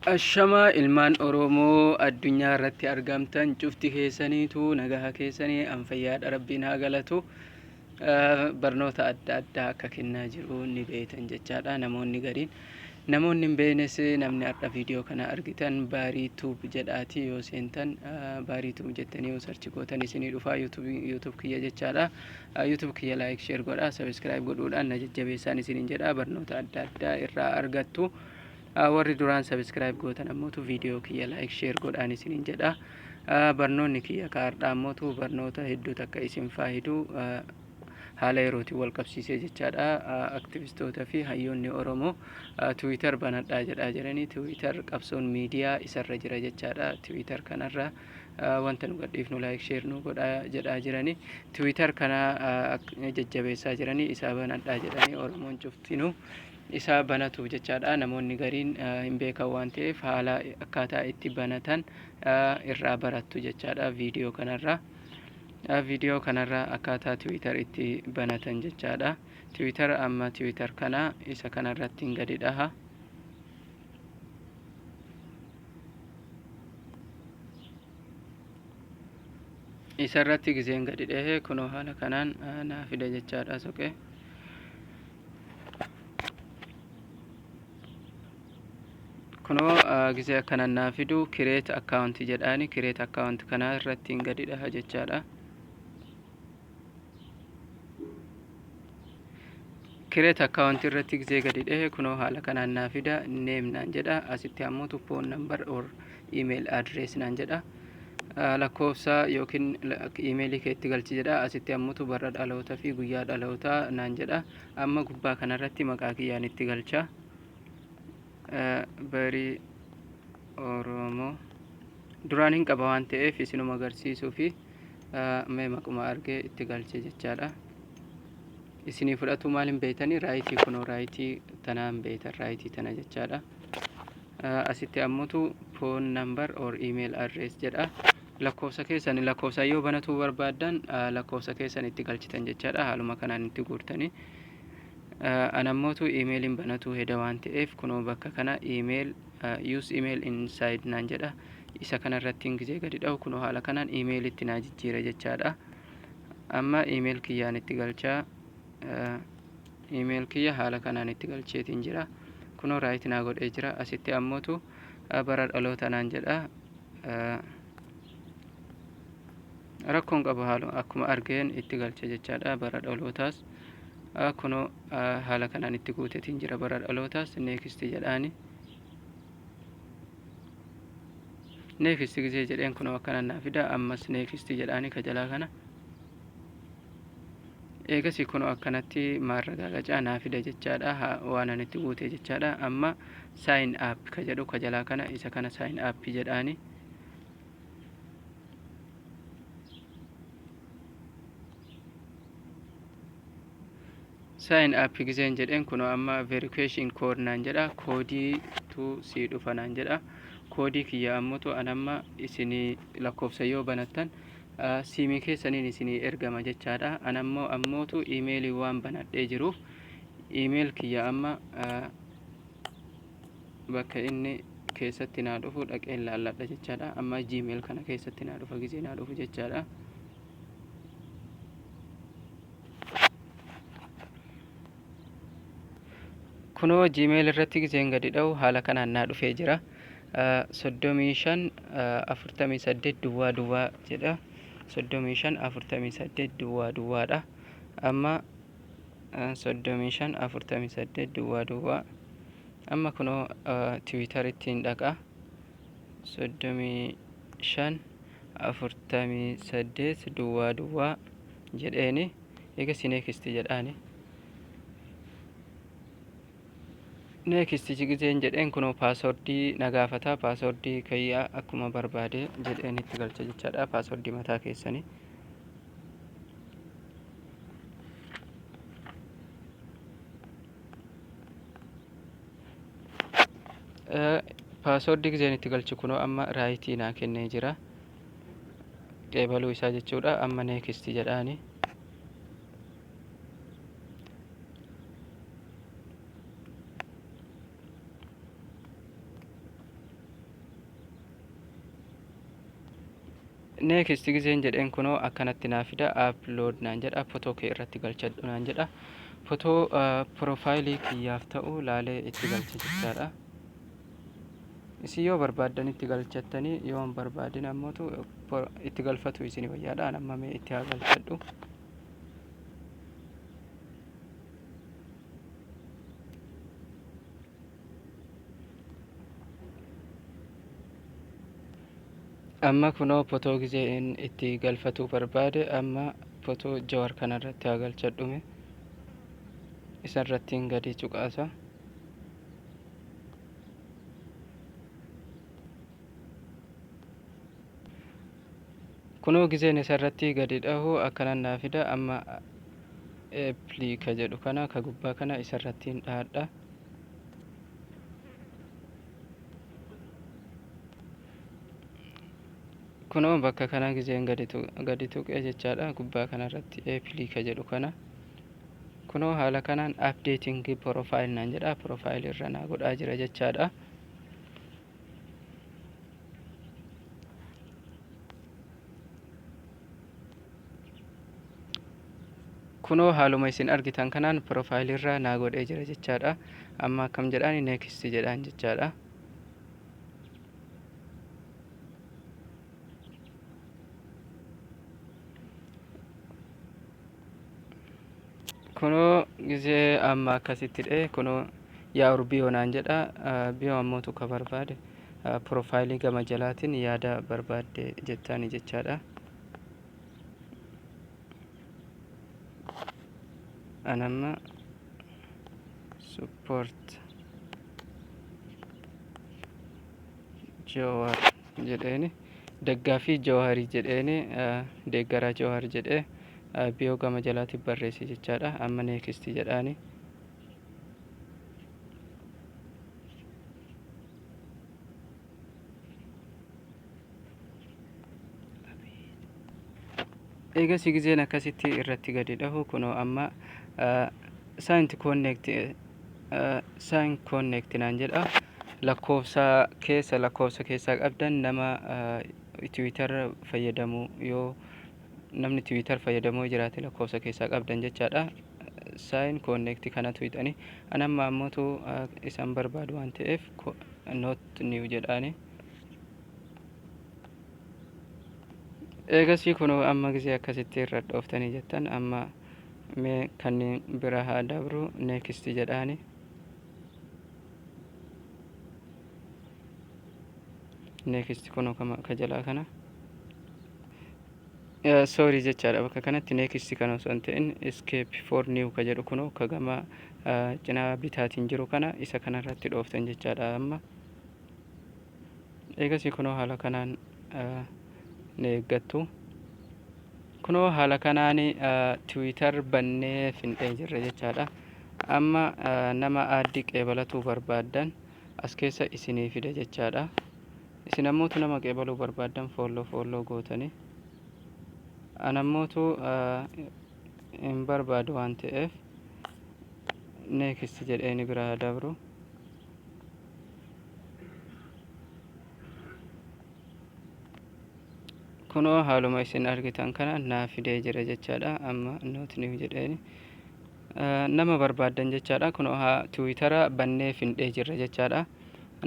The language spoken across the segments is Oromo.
Ashamaa ilmaan oroomoo addunyaa irratti argamtan cufti keessaniitu nagaha keessanii an fayyaadha rabbiin haa galatu barnoota adda addaa akka kennaa jiru ni beektan jechaadha namoonni gariin namoonni hin beeknes namni har'a viidiyoo kana argitan baarii tuub jedhaati yoo seentan baarii tuub jettanii yoo sarchi gootan isinii dhufaa yuutuub kiyya jechaadha yuutuub kiyya laayik sheer godhaa sabiskiraayib godhuudhaan na jajjabeessaan isiniin jedha barnoota adda addaa irraa argattu. Ah, Warri duraan subscribe gootan ammootu viidiyoo kiyya like share godhaan isinin jedha. Ah, Barnoonni kiyya ka hardhaa ammootu barnoota hedduu takka isin faayidu ah, haala yerootiin wal qabsiisee jechaadha. Ah, Aktivistoota fi hayyoonni Oromoo ah, Twitter banadhaa jedhaa jiranii. Twitter qabsoon miidiyaa isarra jira jechaadha. Twitter kanarra ah, wanta nu gadhiifnu like share nu godhaa jedhaa jiranii. Twitter kana ah, ak- jajjabeessaa jiranii isaa banadhaa jedhanii Oromoon cuftinuu isaa banatuuf jechaadha. Namoonni gariin hin beekan waan ta'eef haala akkaataa itti banatan irraa barattu jechaadha viidiyoo kanarraa. Viidiyoo kanarraa akkaataa tiwiitar itti banatan jechaadha. Tiwiitar amma tiwiitar kana isa kanarratti hin gadi dhaha. Isarratti giseen gadi dhahe kunoo haala kanaan naa fida jechaadha soqee. kunoo gisee akkanan naa fidu kireet akkaawunti jedhaani kireet akkaawunti kanaa irratti hin gadidha jechaadha kireet akkaawunti irratti gisee gadi dhehe kunoo haala kanaan naa fida neem naan jedha asitti ammoo tu foon nambar or email address naan jedha lakkoofsa yookiin imeelii kee itti galchi jedha asitti ammutu barra dhaloota fi guyyaa dhaloota naan jedha amma gubbaa kanarratti maqaa kiyyaan itti galcha barii oromoo duraan hin qaba waan ta'eef isinuma agarsiisuu fi mee maquma argee itti galche jechaadha isinii fudhatuu maal hin beeytanii raayitii kunoo raayitii tanaa hin beeytan raayitii tana jechaadha Asitti ammutu phone number or email address jedha. Lakkoofsa keessan lakkoofsa yoo banatuu barbaaddan lakkoofsa keessan itti galchitan jechaadha. Haaluma kanaan itti guurtanii. Anammotu imeeliin banatuu heda waan ta'eef kunoo bakka kana email use email inside naan jedha. Isa kanarrattiin gizee gadi dhahu kunoo haala kanaan imeelitti naa jijjiira jechaadha. Amma email kiyyaan itti galchaa. Email kiyya haala kanaan itti galcheetiin jira. Kunoo right naa godhee jira. Asitti ammootu bara dhaloota naan jedha. Rakkoon qabu haaluma akkuma argeen itti galche jechaadha. Bara dhalootaas kunoo haala kanaan itti guuteetiin jira. Bara dhalootaas next jedhaani. Next gisee jedheen kunoo akkanaan naa fida. Ammas next jedhaani ka jalaa kana. eegasii kunoo akkanatti maarragaagacaa naa fida jechaadha waan ani itti guute jechaadha amma sign up ka jedhu ka jalaa kana isa kana sign up jedhaani sign up giseen jedheen kunoo amma verification code naan jedha koodii tu sii dhufa naan jedha koodii kiyya ammutu an amma isinii lakkoofsa yoo banattan siimi keessaniin isinii ergama jechaadha an ammoo ammootu imeelii waan banadhee jiruuf imeel kiyya amma bakka inni keessatti naa dhufu dhaqeen laalladha jechaadha amma gmail kana keessatti naa dhufa gizee naa dhufu jechaadha kunoo gmail irratti gizeen gadi dha'u haala kanaan naa dhufee jira soddomii shan afurtamii saddeet duwwaa duwwaa jedha soddomii shan afurtamii saddeet duwwaa duwwaadha amma soddomii shan afurtamii saddeet duwwaa duwwaa amma kunoo tiwiitaritti hin dhaqa soddomii shan afurtamii saddeet duwwaa duwwaa jedheeni eegasii neekisti jedhaani neekisti jigizeen jedheen kunoo paaswordii na gaafata paaswordii kayyaa akkuma barbaade jedheen itti galcha jechaadha paaswordii mataa keessanii paaswordii gizeen itti galchu kunoo amma raayitii naa kennee jira qeebaluu isaa jechuudha amma neekisti jedhaani neekisti gizeen jedheen kunoo akkanatti naa fida aplood naan jedha fotoo kee irratti galchadhu naan jedha fotoo piroofaayilii kiyyaaf ta'u laalee itti galcha jechaadha Isin yoo barbaaddan itti galchattanii yoo hin barbaadin ammotu bor- itti galfatu isin wayyaadhaan amma mee itti haa galchadhu. Amma kunoo potoo gizee in itti galfatuu barbaade amma potoo jawar kanarratti haa galchadhume isarrattiin gadi cuqaasa. kunoo gizeen isa irratti gadi dhahu akkanan naa fida amma eeplii ka jedhu kana ka gubbaa kana isa irratti hin dhahadha kunoo bakka kana gizeen gadi tuqee jechaadha gubbaa kana irratti eeplii ka jedhu kana Kunoo haala kanaan updating profile naan jedha profile irra naa godhaa jira jechaadha. Kunoo haaluma isin argitan kanaan profile irra naa godhee jira jechaadha. Amma akkam jedhaan next jedhaan jechaadha. kunoo gizee amma akkasitti dhe kunoo yaa urbiyoo naan jedha biyoo ammoo tuka barbaade profaayilii gama jalaatiin yaada barbaadde jettaani jechaadha anamma support Jawaar jedheeni daggaafii Jawaarii jedheeni deeggaraa Jawaar jedhee biyoo gama jalaatiif barreesse jechaadha. Amma neekisti jedhaani. Eegasii gizeen akkasitti irratti gadi dhahu kunoo amma saayinti koonneekti sign connect naan jedha lakkoofsa keessa lakkoofsa keessaa qabdan nama tiwiitar fayyadamu yoo namni tiwiitar fayyadamoo jiraate lakkoofsa keessaa qabdan jechaadha sign connect kanatu hidhani anamma ammotu isan barbaadu waan ta'eef not new jedhaani eegasii kun amma gisee akkasitti irra dhooftanii jettan amma Mee kanniin bira haa dabru next jedhaani. Next kuno ka jalaa kana. Sorry jechaadha bakka kanatti next kana osoo hin ta'in escape for new ka jedhu kuno ka gama cinaa bitaatiin jiru kana isa kanarratti dhooftan jechaadha amma. Eegasii kunoo haala kanaan ni eeggattu. Kunoo haala kanaan Twitter bannee findhee jirra jechaadha. Amma nama aaddi qeebalatuu barbaaddan as keessa isinii fida jechaadha. Isin ammootu nama qeebaluu barbaaddan foolloo foolloo gootani. An ammootu hin barbaadu waan ta'eef next jedhee ni biraa dabru. kunoo haaluma isin argitan kana naa fidee jira jechaadha amma noot niw jedheen nama barbaaddan jechaadha kunoo haa tiwiitara bannee findhee jirra jechaadha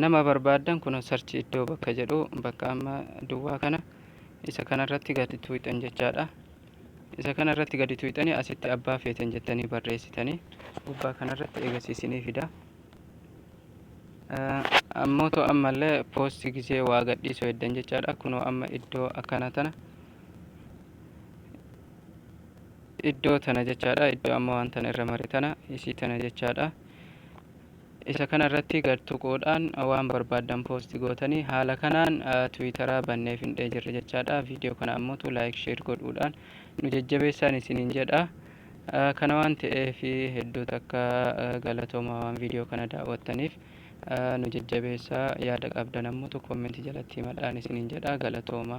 nama barbaaddan kunoo sarchi iddoo bakka jedhu bakka amma duwwaa kana isa kanarratti gadi tuwixan jechaadha Isa kana irratti gadi tuyxanii asitti abbaa feetan jettanii barreessitanii gubbaa kana irratti eegas isinii fida. Ammoo too ammallee poosti gisee waa gadhiisuu heddan jechaadha. Kunoo amma iddoo akkana tana iddoo tana jechaadha. Iddoo amma waan tana irra mare tana isii tana jechaadha. Isa kana irratti gad tuquudhaan waan barbaaddan post gootanii haala kanaan twittera bannee findhee jirra jechaadha. Viidiyoo kana ammotu like share godhuudhaan nu jajjabeessaan isiniin jedha. Kana waan ta'eef hedduu takka galatooma waan viidiyoo kana daawwattaniif nu jajjabeessaa yaada qabdan ammotu comment jalatti himadhaan isiniin jedha galatooma.